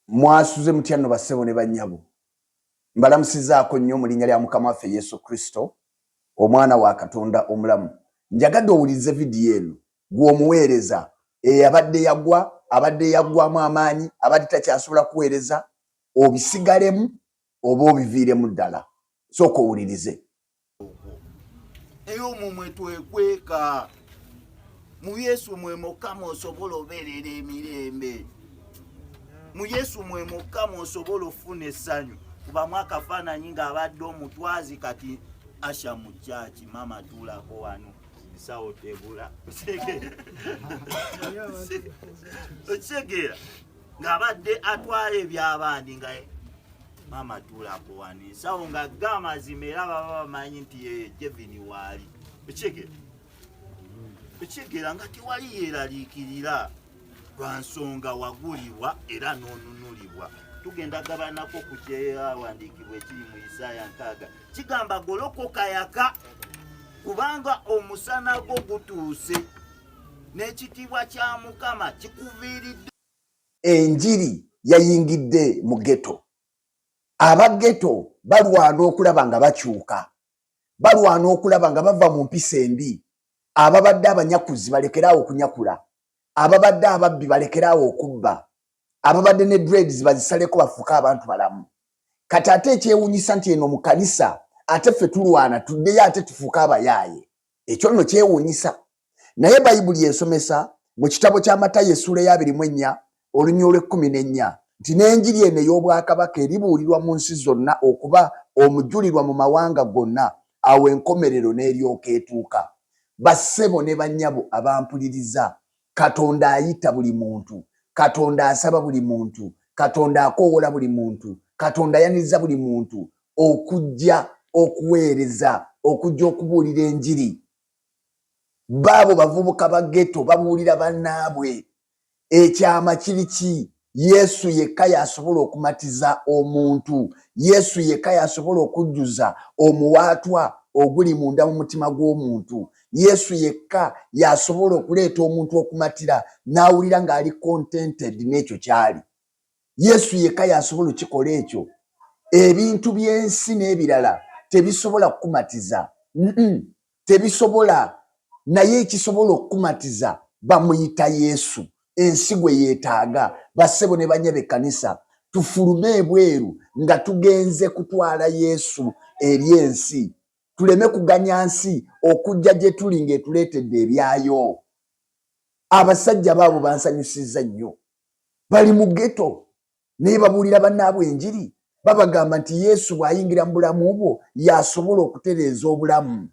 Mwasuze mutya nno bassebo ne bannyabo? Mbalamusizaako nnyo mu linnya lya Mukama waffe Yesu Kristo, Omwana wa Katonda omulamu. Njagadde owulirize vidiyo eno, ggwe omuweereza eyabadde yagwa, abadde yaggwaamu amaanyi, abadde takyasobola kuweereza, obisigalemu oba obiviiremu ddala sooka owulirize eyo omwo mwetwekweka mu yesu mwe mukama osobola obeerera emirembe mu yesu mwe mukama osobola ofuna essanyu kubamu akafaananyi ng'abadde omutwazi kati asha mu kyaki maama tuulako wano nsawo tegula okitegeera ng'abadde atwala eby'abandi nga maama tuula kuwani nsawo nga ga amazima era baba bamanyi nti yeye jevini waali ekyegera ekyegera nga tewali yeeraliikirira lwa nsonga wagulibwa era n'onunulibwa tugenda gabanako ku kyeyawandiikibwa ekiri mu isaaya nkaaga kigamba golokoka yaka kubanga omusana gwo gutuuse n'ekitiibwa kya mukama kikuviiridde enjiri yayingidde mu geto abageto balwana okulaba nga bakyuka balwana okulaba nga bava mu mpisa embi ababadde abanyakuzi balekeraawo okunyakula ababadde ababbi balekeraawo okubba ababadde ne dreads bazisaleko bafuuke abantu balamu kati ate ekyewunyisa nti eno mu kanisa ate ffe tulwana tuddeyo ate tufuuke abayaaye Ekyo nno kyewuunyisa! Naye Bayibuli esomesa mu kitabo kya Matayo essuula ey'abiri mu ennya oluny. Olw'ekkumi n'ennya nti n'enjiri eno ey'obwakabaka eribuulirwa mu nsi zonna okuba omujulirwa mu mawanga gonna, awo enkomerero n'eryoka etuuka. Bassebo ne bannyabo abampuliriza, Katonda ayita buli muntu. Katonda asaba buli muntu. Katonda akoowola buli muntu. Katonda ayaniriza buli muntu okujja okuweereza, okujja okubuulira enjiri. Baabo bavubuka ba ghetto babuulira bannaabwe. Ekyama kiri ki? Yesu yekka y'asobola okumatiza omuntu. Yesu yekka y'asobola okujjuza omuwaatwa oguli munda mu mutima gw'omuntu. Yesu yekka y'asobola okuleeta omuntu okumatira n'awulira ng'ali contented n'ekyo ky'ali. Yesu yekka y'asobola okikola ekyo. Ebintu by'ensi n'ebirala tebisobola kukumatiza. Mm-mm. tebisobola naye ekisobola okukumatiza bamuyita yesu ensi gwe yeetaaga bassebo ne banya be kanisa tufulume ebweru nga tugenze kutwala yesu eri ensi tuleme kuganya nsi okujja gye tuli ng'etuleetedde ebyayo abasajja baabo bansanyusizza nnyo bali mu geto naye babuulira bannaabwe enjiri babagamba nti yesu bw'ayingira mu bulamu bwo y'asobola okutereeza obulamu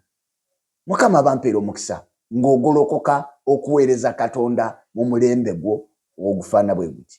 mukama bampeera omukisa ng'ogolokoka okuweereza katonda mu mulembe gwo ogufaana bwe guti